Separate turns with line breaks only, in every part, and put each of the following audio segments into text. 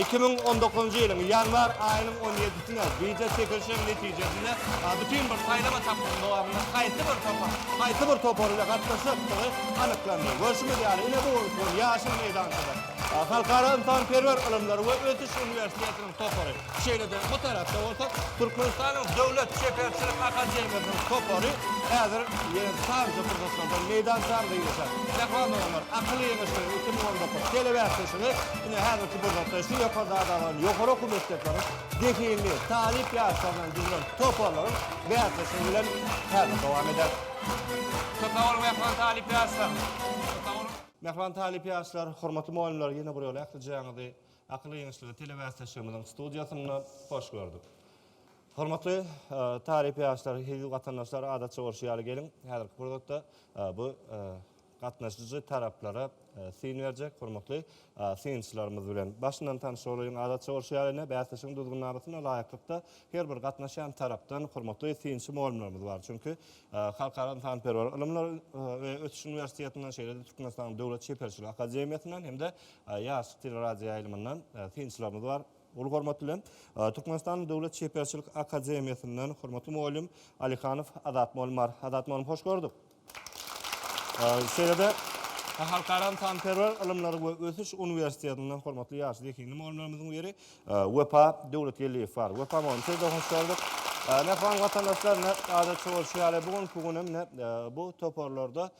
Iki müň on dokuzynjy ýylyň ýanwar aýynyň on ýedisine bije çekilişiň netijesinde bütin bir saýlama tapgyrynyň dowamynda haýsy bir topar haýsy bir topar bilen gatnaşjakdygy anyklandy. Görşümiz ýaly, ine bu gün şol ýaşyl meýdançada Halkara ynsanperwer ylymlar we ösüş uniwersitetiniň topary, şeýle-de bu tarapda bolsa Türkmenistanyň Döwlet çeperçilik akademiýasynyň topary häzir ýene sanjy pursatlardan meýdançamyza girişer. Mähriban doganlar, Akyl ýeňişligiň iki müň on dokuz telebäsleşigi Ine, häzirki pursatda şu ýokarda adalan ýokary okuw mekdepleriň zehinli talyp ýaşlaryndan düzülen toparlaryň bäsleşigi bilen häzir dowam eder. Köp sag boluň, mähriban talyp ýaşlar! Köp sag boluň! Mähriban talyp ýaşlar, hormatly mugallymlar, ýene bir ýola ählijaňyzy Akyl ýeňişleri telebäsleşigimiziň studiýasynda hoş gördük. Hormatly talyp ýaşlar, hezil watandaşlar, adatça bolşy ýaly geliň, häzirki pursatda bu Gatnaşyjy taraplara syn berjek hormatly synçylarymyz bilen başyndan tanyş bolaýyň. Adatça bolşy ýaly ine, bäsleşigiň düzgünnamasyna laýyklykda her bir gatnaşýan tarapdan hormatly synçy mugallymlarymyz bar. Çünki Halkara ynsanperwer ylymlar we ösüş uniwersitetinden, şeýle-de Türkmenistanyň Döwlet çeperçilik akademiýasyndan hem-de Ýaşlyk teleradioýaýlymyndan synçylarymyz bar. Uly hormat bilen, Türkmenistanyň Döwlet çeperçilik akademiýasyndan hormatly mugallym Alyhanow Azat mugallym bar. Azat mugallym, hoş gördük! Şeýle-de, Halkara ynsanperwer ylymlary we ösüş uniwersitetinden hormatly ýaş zehinli mugallymlarymyzyň biri Wepa Döwletgeldiýew bar. Wepa mugallym, size hoş geldik. Mähriban watandaşlar, ine, adatça bolşy ýaly, bu günki gün hem, ine, bu toparlarda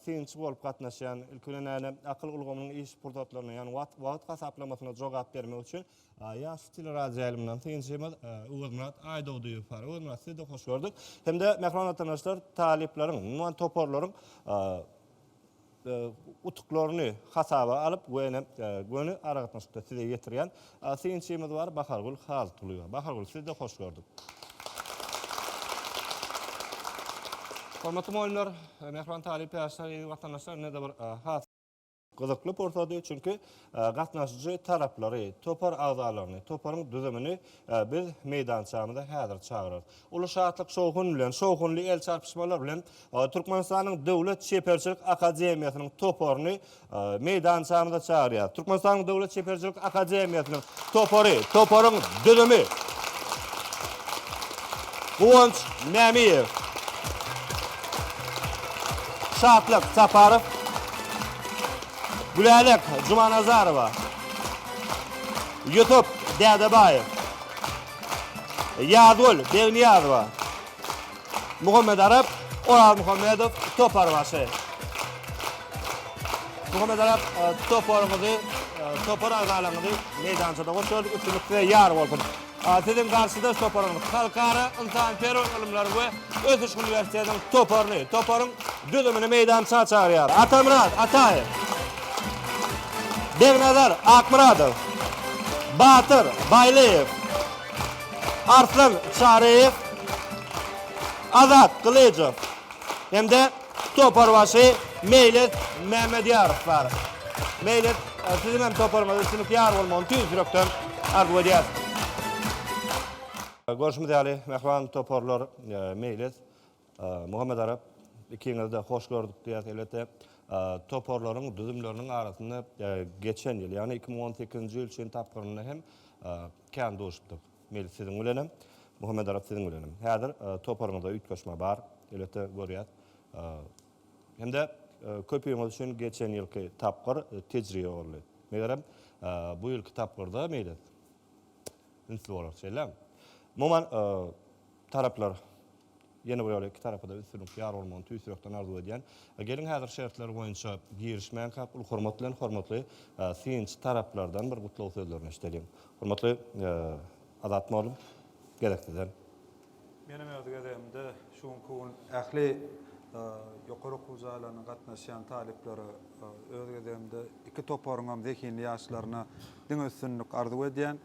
synçy bolup gatnaşýan, ilki bilen, ine, akyl ulgamynyň iş pursatlaryna, ýagny wagt hasaplamasyna jogap bermek üçin, Aýaz teleradioýaýlymyndan synçymyz Öwezmyrat Aýdogdyýew bar. Öwezmyrat, sizi-de hoş gördük. Hem-de, mähriban watandaşlar, talyplaryň, umuman, toparlaryň utuklaryny hasaba alyp we ine, göni aragatnaşykda size ýetirýän synçymyz bar, Bahargül Halytgulyýewa. Bahargül, sizi-de hoş gördük. Hormatly mugallymlar, mähriban talyp ýaşlar, eziz watandaşlar, ine-de bir has. Gyzykly pursady, çünki gatnaşyjy taraplary, topar agzalaryny, toparyň düzümini biz meýdançamyza häzir çagyrarys. Uly şatlyk-şowhun bilen, şowhunly el çarpyşmalar bilen Türkmenistanyň Döwlet çeperçilik akademiýasynyň toparyny meýdançamyza çagyrýarys. Türkmenistanyň Döwlet çeperçilik akademiýasynyň topary, toparyň düzümi, Guwanç Mämiýew, Şatlyk Saparow, Gülälek Jumanazarowa, Ýusup Dädebaýew, Ýazgül Begniýazowa, Muhammet Arap, Oraz Muhammedow, toparbaşy. Muhammet Arap, e, toparyňyzy, e, topar agzalaryňyzy meýdançada hoş gördük, üstünlik size ýar bolsun. Siziň garşyda toparyňyz Halkara ynsanperwer ylymlar we ösüş uniwersitetiniň toparyny, toparyň düzümini meýdança çagyrýar. Atamyrat Ataýew. Begnazar Akmyradow. Batyr Baýlyýew. Arslan Çaryýew, Azat Gylyjow hem-de toparbaşy Meýlis Mämedýarow bar. Meýlis, siziň hem toparyňyza üstünlik ýar bolmagyny tüýs ýürekden arzuw edýäris. Görşümiz ýaly, mähriban toparlar Meýlis, Muhammet Arap, Ikiňizi-de hoş gördük diýýäs. Elbetde, toparlaryň düzümleriniň arasynda geçen ýyl, ýagny iki müň on sekizinji ýyl çen tapgyrynda hem kän duşupdyk. Meýli siziň bilenem, Muhammet Arap siziň bilenem. Häzir toparyňyzda üýtgeşme bar, elbetde görýäs. Hem-de köpüňiz üçin geçen ýylky tapgyr tejribe boldy. Megerem, bu ýylky tapgyrda meýli ünsli bolar, şeýlemi? Umuman, Taraplar, ýene bir ýola iki tarapa-da üstünlik, ýar bolmagyny tüýs ýürekden arzuw edýän. Geliň häzir şertler boýunça girişmänkäk uly hormat bilen hormatly synçy taraplardan bir gutlag sözlerini eşideliň. Hormatly Azat mugallym, gezek sizden.
Menem öz gezegimde şu günki gün ähli ýokary okuw jaýlaryna gatnaşýan talyplara, öz gezegimde iki toparyňam zehinli ýaşlaryna diňe üstünlik arzuw edýän.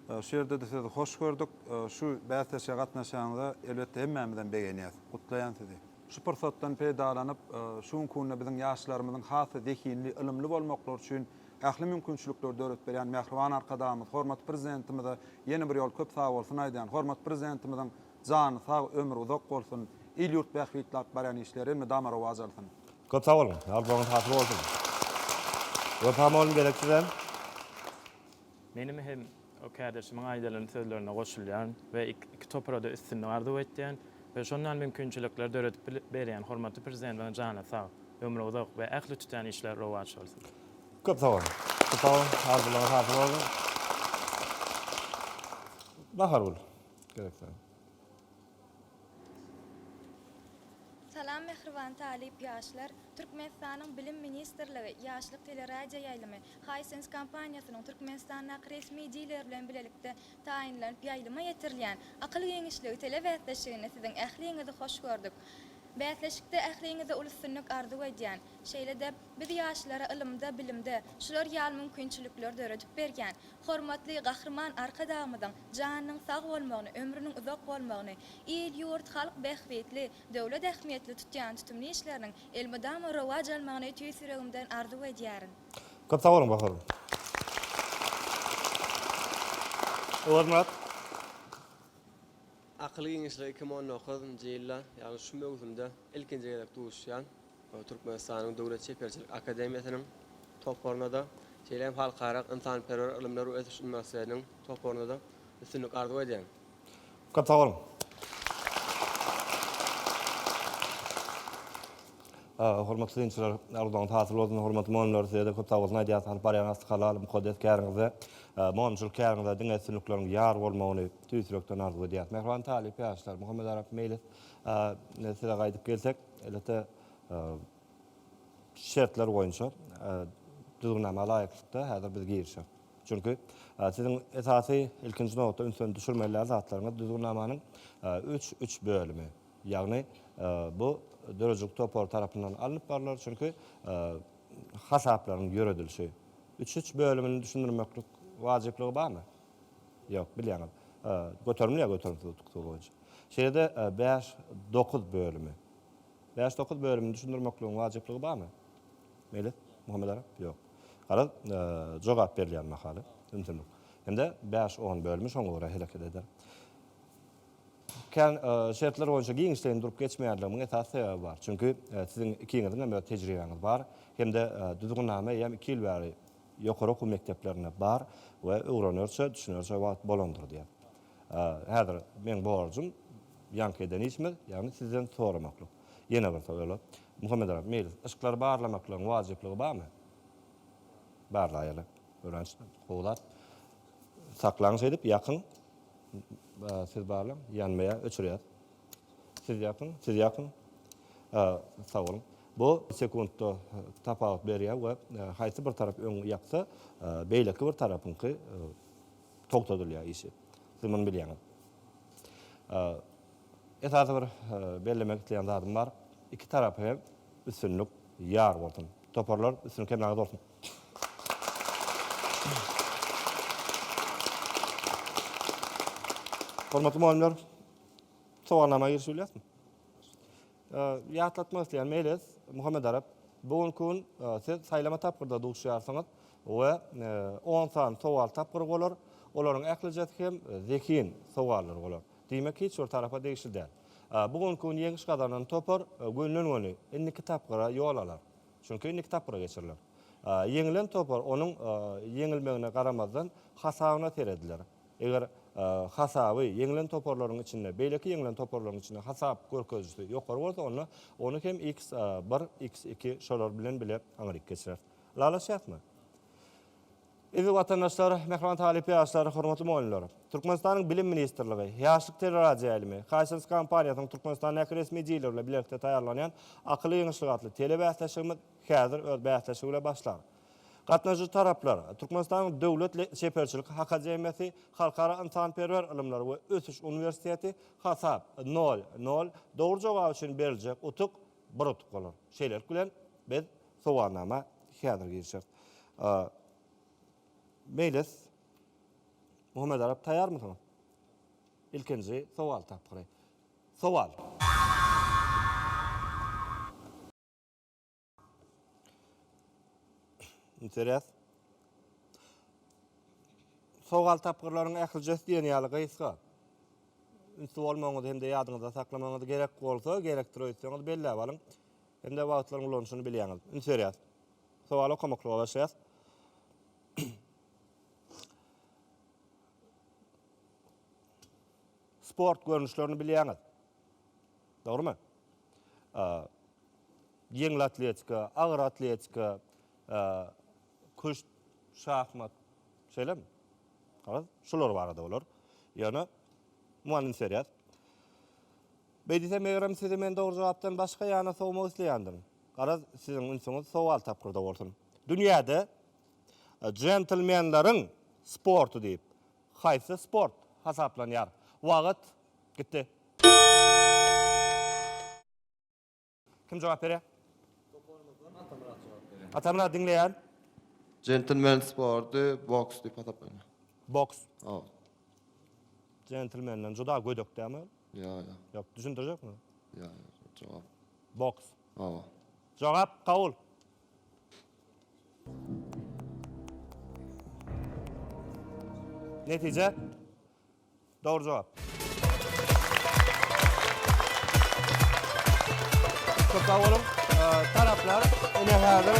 Şu ýerde-de sizi hoş gördük. Şu bäsleşige gatnaşanyňyza elbetde hemmämizem begenýäs. Gutlaýan sizi. Şu pursatdan peýdalanyp, şu günki günde biziň ýaşlarymyzyň has-da zehinli, ylymly bolmaklary üçin ähli mümkinçilikleri döredip berýän mähriban Arkadagymyz, hormatly Prezidentimize ýene bir ýol köp sagbolsun aýdýan. Hormatly Prezidentimiziň jany sag, ömri uzak bolsun. Il-ýurt bähbitli alyp barýan işleri elmydama rowaç alsyn. Köp sag boluň.
Arzuwyňyz hasyl bolsun. Wepa mugallym gereksiz hem.
Menem hem o kärdeşimiň aýdalan sözlerine goşulýan we iki toparada üstünlik arzuw etýän we şondan mümkinçilikler döredip berýän hormatly Prezidentimiň jany sag, ömri uzak we ähli tutýan işleri rowaç bolsun. Köp sag boluň.
Köp sag boluň. Arzuwlaryňyz hasyl bolsun. Bahargül, gerek däl.
Salam mähriban talyp ýaşlar! Türkmenistanyň Bilim ministrligi, Ýaşlyk teleradioýaýlymy, Hisense kompaniýasynyň Türkmenistandaky resmi dileri bilen bilelikde taýynlanyp ýaýlyma ýetirilýän Akyl giňişligi telebäsleşiginde siziň ähliňizi hoş gördük. Bäsleşikde ähliňize uly üstünlik arzuw edýän. Şeýle-de, biz ýaşlara ylymda, bilimde şular ýaly mümkinçilikleri döredip berýän Hormatly Gahryman Arkadagymyzyň janynyň sag bolmagyny, ömrüniň uzak bolmagyny, il-ýurt, halk bähbitli, döwlet ähmiýetli tutýan tutumly işleriniň elmydama rowaç almagyny tüýs ýüregimden arzuw edýärin. Köp sag boluň
Gahar. Öwezmyrat.
Akyl giňişligi iki müň on dokuz njy ýylda, ýagny şu möwsümde ilkinji gezek duşýan Türkmenistanyň Döwlet çeperçilik akademiýasynyň toparyna-da, şeýle hem Halkara ynsanperwer ylymlar we ösüş uniwersitetiniň toparyna-da üstünlik arzuw edýän. Köp sag boluň!
Hormatly synçylar, arzuwlaryňyz hasyl bolsun! Hormatly mugallymlar, size-de köp sag bolsun aýdýarys, alyp barýan aksy halal, mukaddes käriňize, mugallymçylyk käriňize diňe üstünlikleriň ýar bolmagyny, Tüýs ýürekden arzuw edýäris. Mähriban talyp ýaşlar, Muhammet Arap Meýlis, size gaýdyp gelsek, elbetde, şertler boýunça, düzgünnama laýyklykda häzir biz girişýäs. Çünki, siziň esasy, ilkinji nobatda ünsüni düşürmelidäl zatlaryňyz düzgünnamanyň üç, üç bölümi. Ýagny, bu döredijilik topary tarapyndan alnyp barlar, çünki, hasaplaryň ýöredilişi üç, üç bölümini düşündirmeklik wajyplygy barmy? Ýok, bilýäňiz. Göterimli ýa göterimsiz utuksuz boýunça. Şeýle-de bäş, dokuz bölümi. Bäş, dokuz bölümini düşündirmekligiň wajyplygy barmy? Meýlis Muhammedarap? Ýok. Garaz, jogap berilýän mahaly ümsümlik. Hem-de bäş, on bölümi şoňa görä hereket eder. Kän şertler boýunça giňişleýin durup geçmeýänligimiň esasy sebäbi bar. Çünki siziň ikiňiziň hem öz tejribäňiz bar. Hem-de düzgünnama eýýäm iki ýyl bäri ýokary okuw mekdeplerinde bar we öwrenerçe, düşünerçe wagt bolandyr diýýär. Häzir meň borjum ýaňky eden işimiz, ýagny sizden soramaklyk. Ýene bir sowal. Muhammet aga, meýlis, yşklary barlamaklygyň wajyplygy barmy? Barlaýaly. Öwrenç, gowy zat. Saklaň şeýdip, ýakyň. Siz barlaň, ýanmaýar, öçürýäs. Siz ýapyň, siz ýapyň. Sag boluň. Bu sekuntda tapawut berýär we haýsy bir tarap öň ýapsa, beýleki bir tarapyňky togtadylýar işi. Siz muny bilýäňiz. Esasy bir bellemek isleýän zadym bar. Iki tarapa hem üstünlik ýar bolsun. Toparlar, üstünlik hemmäňize bolsun! Hormatly mugallymlar! Sowalnama girişip bilýäsmi? Ýatlatmak isleýän Meles Muhammedarap, bu günki gün siz saýlama tapgyrda duşýarsyňyz we on sany sowal tapgyry bolar. Olaryň ählijesi hem zehin sowallar bolar. Diýmek, hiç bir tarapa degişli däl. Bu günki gün ýeňiş gazanan topar gönüden-göni indiki tapgyra ýol alar. Çünki indiki tapgyra geçiriler. Ýeňilen topar onuň ýeňilmegine garamazdan hasabyna serediler. Eger hasaby ýeňlen toparlaryň içinde, beýleki ýeňlen toparlaryň içinde hasap görkezijisi ýokary bolsa, onda ony hem x bir, x iki şolar bilen bile aňryk geçireris. Ylalaşýarysmy? Eziz watandaşlar, mähriban talyp ýaşlar, hormatly mugallymlar! Türkmenistanyň Bilim ministrligi, Ýaşlyk teleradioýaýlymy, Hisense kompaniýasynyň Türkmenistandäki resmi dileri bilen bilelikde taýýarlanýan Akylly ýeňişlik atly telebäsleşigimiz häzir öz bäsleşigi bilen başlar. Gatnaşyjy taraplar, Türkmenistanyň Döwlet çeperçilik hakademiýasy, Halkara ynsanperwer ylymlar we ösüş uniwersiteti, Hasap, nol, nol, dogry jogap üçin beriljek utuk, bir utuk bolar. Şeýlelik bilen, biz sowalnama häzir girişeris. Meýlis Muhammedarap, taýýarmysyňyz? Ilkinji sowal tapgyry. Sowal. Interes. Sowal tapgyrlaryň ählijesi diýen ýaly gysga. Ünsli bolmagyňyzy hem-de ýadyňyzda saklamagyňyz gerek bolsa, gerekdir öýtseňiz belläp alyň. Hem-de wagtlaryň ulanyşyny bilýäňiz. Üns berýäs. Sowaly okamaklyga başlaýas. Sport görnüşlerini bilýäňiz. Dogrymy? Ýeňil atletika, agyr atletika, küşt, şahmat, şeýlemi? Halas, şular barada bolar. Ýöne, mugallym Serýaz, Beý diýsem, megerem, sizi men dogry jogapdan başga ýana sowmak isleýändirin. Garaz, siziň ünsüňiz sowal tapgyrda bolsun. Dünýäde jentlmenleriň sporty diýip, haýsy sport hasaplanýar? Wagt Gitdi. Kim jogap berýär? Toparymyzdan Atamyrat jogap berýär. Atamyrat diňleýän. Jentlmen
sporty boks diýip hasaplanýar. Boks. Hawa. Jentlmenden
juda gödek dämi? Ýa, ýa. Ýok,
düşündirjekmi?
Ýa, ýa,
jogap. Boks.
Hawa.
Jogap
kabul. Netije. Dogry jogap. Köp sag boluň. Taraplar ine häzir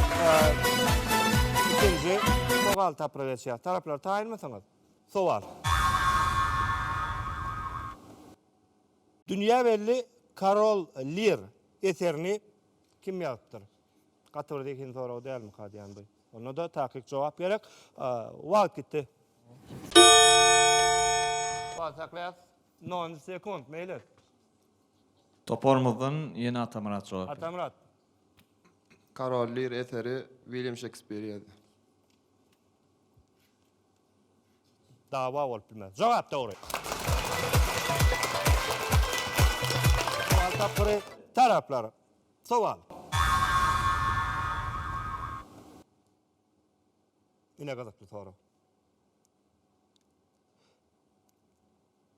ikinji sowal tapyryp geçýär. Taraplar taýynmysyňyz? Sowal. Dünýä belli Karol Lir eserini kim ýazypdyr? Gaty bir zehin sorag dälmika diýýän bu. Onda-da takyk jogap gerek. Wagt gitdi. Wagt saklaýas. 0 sekund, meýli. Toparymyzdan
ýene Atamyrat jogap berdi. Atamyrat.
Karol Lir eseri Wilýam Şekspir ýazdy.
Dawa bolup bilmez. Jogap dogry. Wagt tapgyry taraplar Sowal. Ine gyzykly sorag.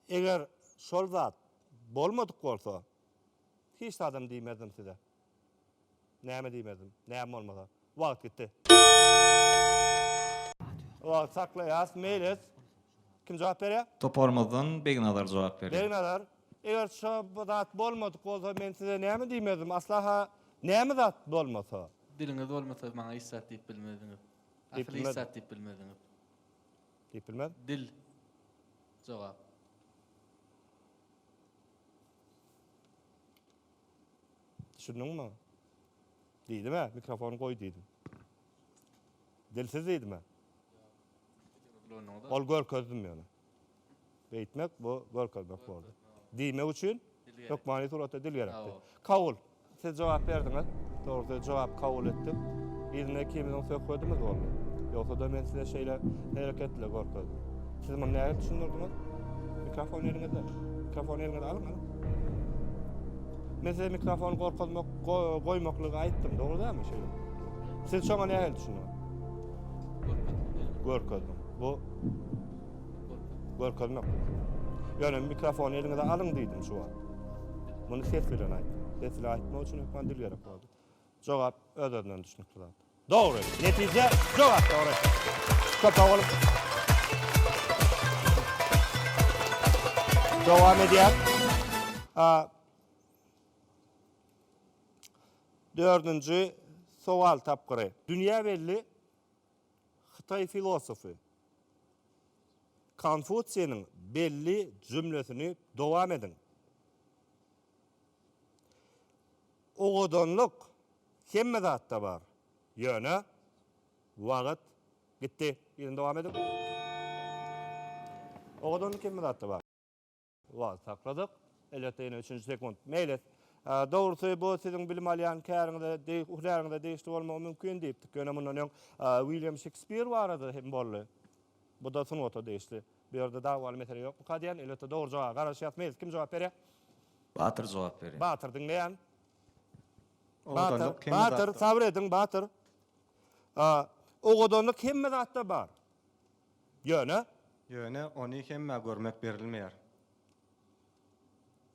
Eger şol zat bolmadyk bolsa, hiç zadam diýmezdim size. Näme diýmezdim, näme bolmasa. Wagt gitdi. Wagty saklaýas. Meýlis. Kim jogap berýär? Toparymyzdan Begnazar
jogap berýär. Begnazar. Eger
şo zat bolmadyk bolsa men size näme diýmezdim. Asla-ha näme zat bolmasa? Diliňiz bolmasa
maňa hiç zat diýip bilmezdiňiz. Diýip Asyl hiç bilmezdim. zat
diýip
bilmezdiňiz. Diýip
bilmez. Dil.
Jogap.
Düşündiňmi? Diýdim-ä, mikrofony goý diýdim. Dilsiz diýdim-ä. Ol görkezdim ýöne. Beýtmek bu görkezmek boldy. Diýmek üçin hökmany suratda dil gerekdi. Kabul. Siz jogap berdiňiz. Dogry söz jogap kabul etdim. Yzyna ikimiziň söhbedimiz boldy. Ýogsa-da men size şeýle hereketli görkezdim. Siz muny nädip düşündirdiňiz? Mikrofon eliňizde. Mikrofony eliňize alyň, alyň. Men size mikrofony gorkezmek goýmaklygy aýtdym, dogry dälmi şeýle? Siz şoňa nähili düşünýäň? Görkezdim. Bu görkezmek. Ýöne mikrofony eliňize alyň diýdim şu wagt. Muny ses bilen aýtdym. Ses bilen aýtmak üçin hökman dil gerek boldy. Jogap öz-özünden düşünikli zat. Dogry. Netije jogap dogry. Köp sag boluň. Dowam edýär. Dördünji sowal tapgyry. Dünýä belli hytaý filosofy Konfutsiýniň belli jümlesini dowam ediň. Owadanlyk hemme zatda bar, ýöne wagt gitdi. Ýene dowam ediň. Owadanlyk hemme zatda bar. Wagt sakladyk. Elbetde ýene üçünji sekunt. Meýlis. Dogrusy, bu siziň bilim alýan käriňize, hünäriňize degişli bolmagy mümkin diýipdik. Ýöne mundan öň Wilýam Şekspir barada hem boldy. Bu-da sungata degişli. Bu ýerde dawaly mesele ýokmyka diýýän. Elbetde dogry jogaba garaşýas. Meýlis, kim jogap berýär? Batyr
jogap berýär. Batyr, diňleýän.
Batyr,
Batyr, sabyr ediň, Batyr.
Owadanlyk hemme zatda bar. Ýöne.
Ýöne ony hemmä görmek berilmeýär.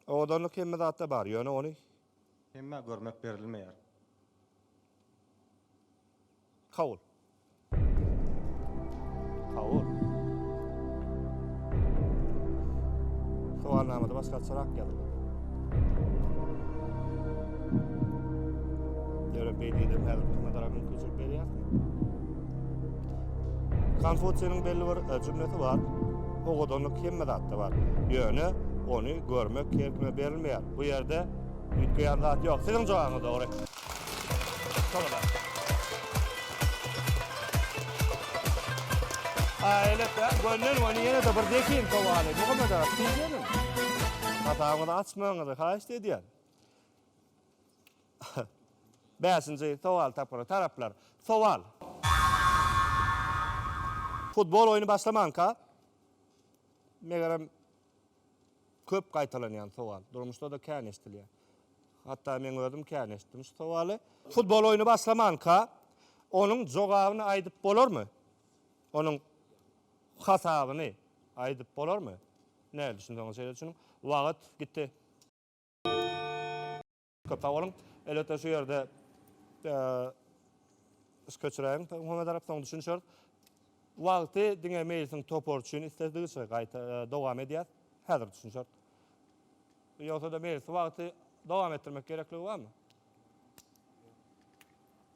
Owadanlyk hemme zatda bar, ýöne ony. Hemmä
görmek berilmeýär.
Kabul. Kabul. Sowalnamada başgaçarak ýazylmaly. Ýöne beýdidem häzirki mazarak mümkinçilik berýär. Konfusiýnyň belli bir jümlesi bar, Owadanlyk hemme zatda bar. Ýöne ony görmek her kime berilmeýär. Bu ýerde üýtgeýän zat ýok. Siziň jogabyňyz dogry. Aýletde gönden göni ýene-de bir zehin sowaly. Muhammet aga, siz gelin. Hasabyňyzy açmagyňyzy haýyşt edýän. Bäşinji sowal tapgyry. Taraplar. Sowal. Futbol oýny başlamanka, megerem, köp gaýtalanýan sowal. Durmuşda-da kän eşidilýär. Hatda meň özüm kän eşitdim şu sowaly. Futbol oýny başlamanka, onuň jogabyny aýdyp bolarmy? Onuň hasabyny aýdyp bolarmy? Nähili düşünseňiz şeýle düşüniň. Wagt gitdi. Köp sag boluň. Elbetde şu ýerde iş köçüräýiň Muhammet Arap soň düşünişeris. Wagty diňe meýilsiň topary üçin isledigiçe gaýta dowam edýäs. Häzir düşünişeris. Ýogsa-da meýilsi wagty dowam etdirmek gerekligi barmy?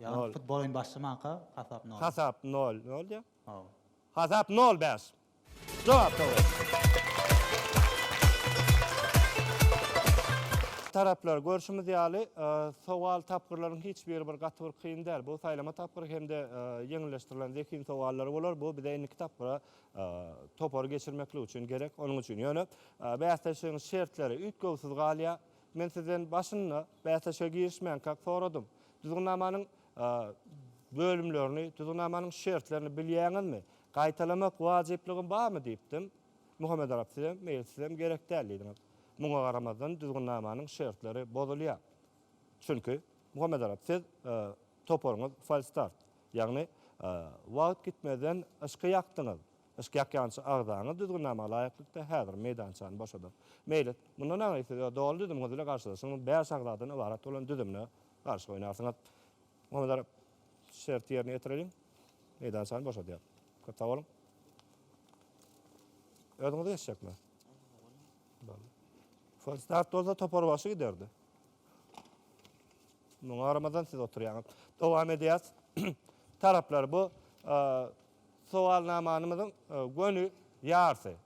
Ýagny futbol oýny
başlamanka hasap nol.
Hasap
nol
bolýar. Hawa. Hasap nol bäş. Jogap dogry. Taraplar, görşümiz ýaly, sowal tapgyrlaryň hiç biri bir gaty bir kyn däl. Bu saýlama tapgyry hem-de ýeňilleşdirilen zehin sowallary bolar. Bu bize indiki tapgyra topary geçirmeklik üçin gerek. Onuň üçin ýöne bäsleşigiň şertleri üýtgewsiz galýar. Men sizden başynda bäsleşige girişmänkäk soradym. Düzgünnamanyň bölümlerini, düzgünnamanyň şertlerini bilýäňizmi? Gaýtalamak wajyplygym barmy? diýipdim. Muhammet Arap sizem, meýil sizem gerek däl diýdiňiz. Muňa garamazdan düzgünnamanyň şertleri bozulýar. Çünki, Muhammet Arap siz toparyňyz falstart, ýagny wagt gitmezden yşky ýakdyňyz. Yşk ýakýança agzaňyz düzgünnama laýyklykda häzir meýdançany boşadyň. Meýlis, mundan aňry siz öz doly düzümiňiz bilen garşylaşyň, bäş agzadan ybarat bolan düzümine garşy oýnarsyňyz. Muhammedarap, şerti ýerine ýetireliň. Meýdançany boşadýar. Köp sag boluň. Özüňiz geçjekmi? Boldy. Folstad bolsa toparbaşy giderdi. Muňa garamazdan siz oturýaňyz. Dowam edýäs. Taraplar bu Sowalnamamyzyň göni ýarsy.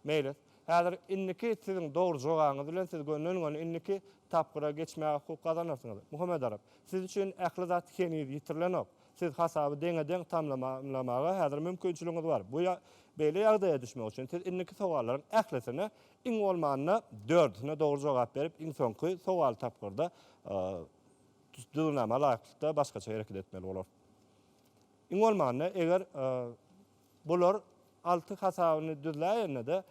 Meýlis. Häzir indiki siziň dogry jogabyňyz bilen siz gönden-göni indiki tapgyra geçmäge hukuk gazanarsyňyz. Muhammedaryp. Siz üçin ähli zat heniz ýitirilenok. Siz hasaby deňe-deň tamamlamaga häzir mümkinçiligiňiz bar. Bu beýle ýagdaýa düşmek üçin siz indiki sowallaryň ählisine iň bolmanda dördüsine dogry jogap berip iň soňky sowaly tapgyrda düzgünnama laýyklykda başgaça hereket etmeli bolarsyňyz. Iň bolmanda, eger bular alty hasabyny düzläýende-de,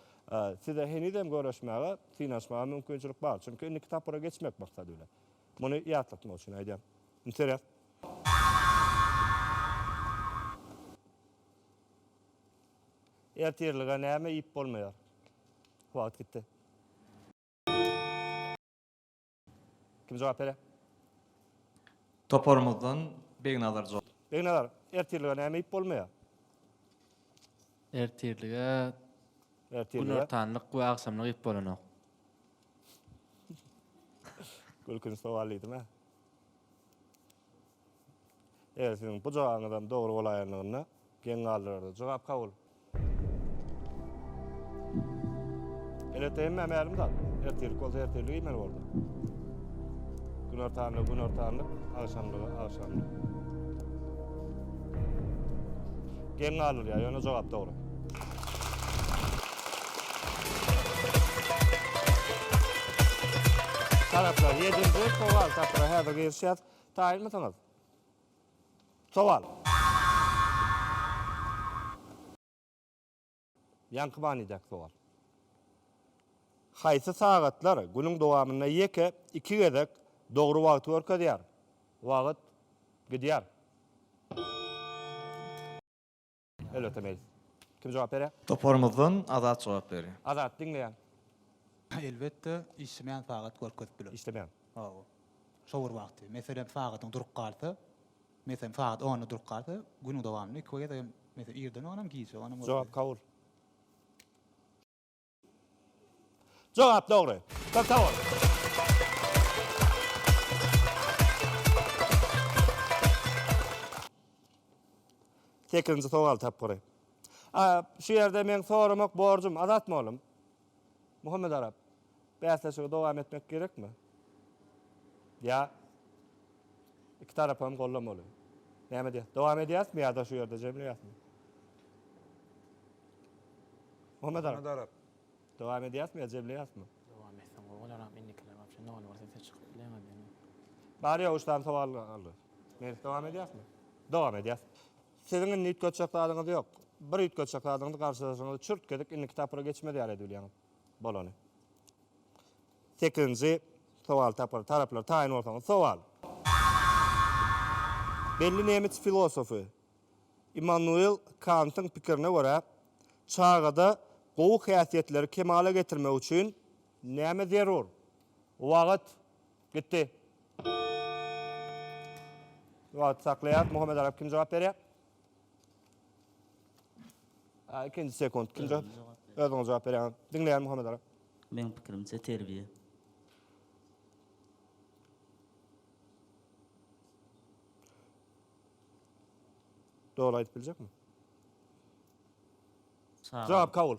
size henizem göreşmäge, synanyşmaga mümkinçilik bar. Çünki indiki tapgyra geçmek maksady bilen. Muny ýatlatmak üçin aýdýan. Interes. Ertirlige näme iýip bolmaýar? Wagt gitdi. Kim jogap berer? Toparymyzdan
Begnazar jogap. Begnazar, ertirlige
näme iýip bolmaýar?
Ertirlige Ertirlige
günortanlyk we
agşamlyk iýip bolanok.
gülkünç sowal diýdim-ä. Eger siziň bu jogabyňyzam dogry bolaýanlygynda geň galdyrardy. Jogap kabul. Elbetde hemmä mälim zat. Ertirlik bolsa ertirlik iýmeli boldy. Günortanlygy günortanlyk, agşamlygy agşamlyk. Geň galdyrýar, ýöne jogap dogry. Taraplar 7-nji sowal tapyra häzir girişýär. Taýynmysyňyz? Sowal. Ýaňky manydäki sowal. Haýsy sagatlar günüň dowamynda ýeke iki gezek dogry wagty görkezýär? Wagt gidýär. Elbetde mail. Kim jogap berýär? Toparymyzdan Azat
jogap berýär. Azat, diňleýän.
Elbetde,
işlemeýän sagat görkezip biler. Işlemeýän. Hawa.
Şo
bir wagty. Meselem, sagatyň durup galsa, meselem, sagat onda durup galsa, günüň dowamynda iki gezegem, meselem, irden bolan hem, gije bolan hem görkezýär. Jogap kabul.
Jogap dogry. Köp sag bol. Sekizinji sowal tapgyry. A, şu ýerde meň soramak borjum, Azat mugallym. Muhammedarap, bäsleşigi dowam etmek gerekmi? Ýa. Iki tarapy hem gollamaly. Näme edýäs? Dowam edýäsmi ýa-da şu ýerde jemleýäsmi? Muhammet aga. Muhammet aga. Dowam edýäsmi ýa jemleýäsmi? Dowam etseň gowy
bolaram. Indikiler wapşe nol bolsa siz çykyp bileňiz. Bar ýa üç
sany sowal galdy. Meris dowam edýäsmi? Dowam edýäs. Siziň indi üýtgetjek zadyňyz ýok. Bir üýtgetjek zadyňyz garşydaşyňyzy çürt gezek indiki tapgyra geçmez ýaly edip bilýäňiz. Bolany. Sekizinji sowaly tapar. Taraplar taýyn bolsaňyz. Sowal. Belli nemes filosofy Immanuel Kantyň pikirine görä, çagada gowy häsiýetleri kemala getirmek üçin näme zerur? Wagt. Gitdi. Wagty saklaýarys. Muhammet Arap kim jogap berýär? Ha, ikinji sekunt. Kimde? Özüňiz jogap beriň. Özüňiz jogap berýäňiz. Diňleýän Muhammet aga. Meň pikirimçe
terbiýe.
Doly aýdyp biljekmi?
Çagalyk. Jogap kabul.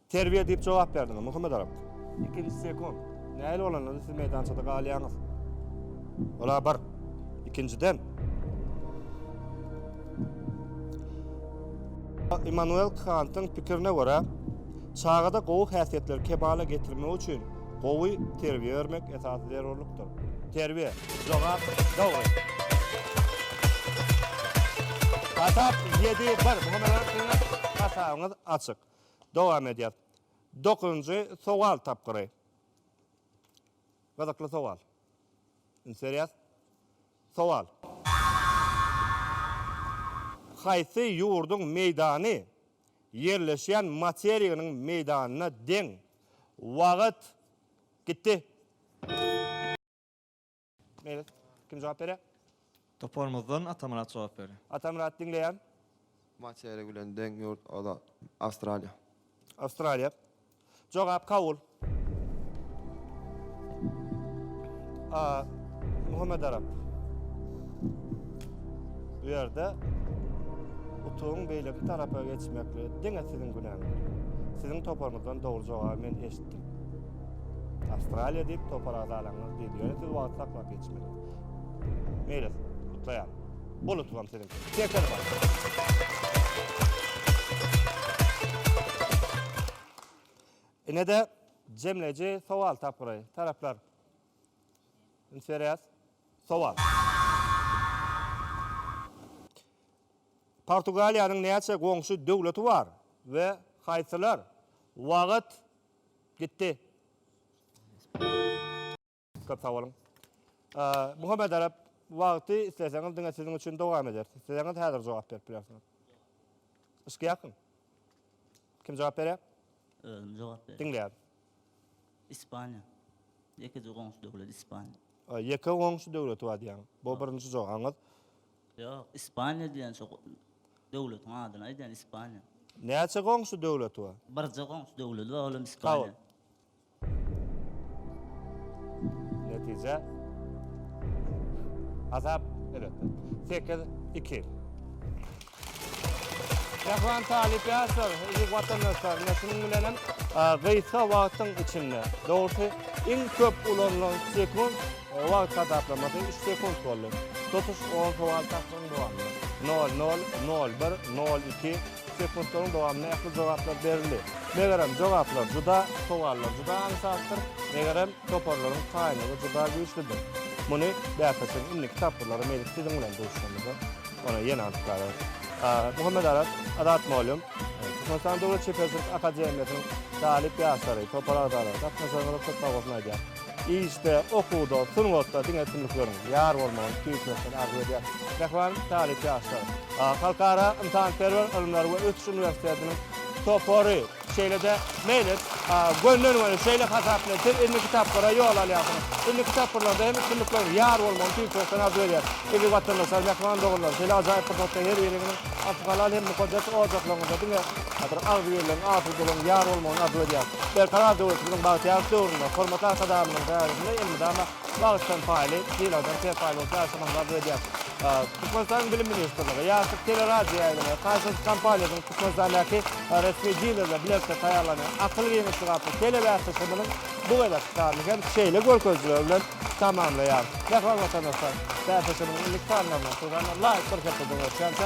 Terbiýe diýip jogap berdiňiz, Muhammedarap. Ikinji Sekon, Nähili bolanda-da siz meýdançada galýaňyz? Ol-a bir. Ikinjiden. Immanuel Kantyň pikirine görä, çagada gowy häsiýetleri kemala getirmek üçin gowy terbiýe bermek esasy zerurlykdyr. Terbiýe. Jogap dogry. Hasap ýedi, bir. Muhammedarap siziň hasabyňyz açyk. Dowam edýäs. Dokuzynjy sowal tapgyry. Gyzykly sowal. Üns berýäs. Sowal. Haýsy ýurduň meýdany ýerleşýän materiginiň meýdanyna deň? Wagt gitdi. Meýli. Kim jogap berýär? Toparymyzdan
Atamyrat jogap berýär. Atamyrat, diňleýän.
Materik
bilen deň ýurt ola Awstraliýa. Awstraliýa.
Jogap kabul. A. Muhammet Arap. Bu ýerde utugyň beýleki tarapa geçmeklige diňe siziň günäňiz. Siziň toparyňyzdan dogry jogaby men eşitdim. Awstraliýa diýip topar agzalaňyz diýdi. Ýöne siz wagty saklap geçmediňiz. Meýlis, gutlaýan. Bol utulam siziň. Şeker bar. Inede jemleýji sowal tapgyry. Taraplar. Üns berýäs. Sowal. Portugaliýanyň näçe goňşy döwleti bar we haýsylar? Wagyt Gitdi. Köp sag boluň. Muhammet Arap, wagty isleseňiz diňe siziň üçin dowam ederis. Isleseňiz häzir jogap berip bilersiňiz. Yşkýakmy? Kim jogap berýär? Özüm jogap berýän.
Diňleýärin.
Ispaniýa.
Ýekeje goňşy döwlet Ispaniýa. Ýeke goňşy
döwleti bar diýýäň. Bu birinji jogabyňyz. Ýok,
Ispaniýa diýen şo döwletiň adyny aýdýan Ispaniýa. Näçe goňşy
döwleti bar? Birje goňşy döwledi
bar olam Ispaniýa.
Netije. Hasap elbetde. Sekiz, iki. Mähriban talyp ýaşlar, eziz watandaşlarymyz şunuň bilenem gysga wagtyň içinde, dogrusy iň köp ulanylan sekunt, Wagt hasaplamasy üç sekunt boldy. Tutuş on sowal tapgyryň dowamynda, nol nol, nol bir, nol iki, sekuntlaryň dowamynda ähli jogaplar berildi. Megerem, jogaplar juda, sowallar juda aňsatdyr, megerem, toparlaryň taýynlygy juda güýçlüdir. Muny bäsleşigiň indiki tapgyrlary meýlis siziň bilen duşuşamyzda ony ýene anyklalarys. Muhammedaras, Azat mugallym, Türkmenistan döwlet çeperçilik akademiýasynyň talyp ýaşlary, topar agzalary gatnaşygyňyza köp sag bolsun aýdýarys. Işde, okuwda, sungatda diňe üstünlikleriň, ýar bolmagyň hiçwagtdan arzuw edýän mähriban talyp ýaşlar! Halkara ynsanperwer ylymlar we ösüş uniwersitetiniň topary, şeýle-de Meýlis, gönden-göni şeýle hasap bilen siz indiki tapgyra ýol alýarsyňyz. Indiki tapgyrlarda hem üstünlikleriň, ýar bolmagyň hiçwagtdan arzuw edýän eziz watandaşlar, mähriban doganlar, şeýle ajaýyp pursatda her biriňiziň asyl halal hem mukaddes ojaklaryňyzda diňe Häzir agzybirligiň, asudalygyň ýar bolmagyny arzuw edýäris. Berkarar döwletimiziň bagtyýarlyk döwründe hormatly Arkadagymyzyň däresinde elmydama bagyşdan paýly, sylagydan serpaý bolup ýaşamagyňyzy arzuw edýäris. Türkmenistanyň Bilim ministrligi, Ýaşlyk teleradioýaýlymy, Kaýsers kompaniýasynyň Türkmenistandäki resmi dilerle bilelikde taýýarlanan Akyl giňişligi atly telebäsleşigimiziň bu gezekki sanyny hem şeýle görkezijiler bilen tamamlaýarys. Mähriban watandaşlar, bäsleşigimiziň indiki sanlarynda şu sanlar laýyk bir hepde dowam etýänçä,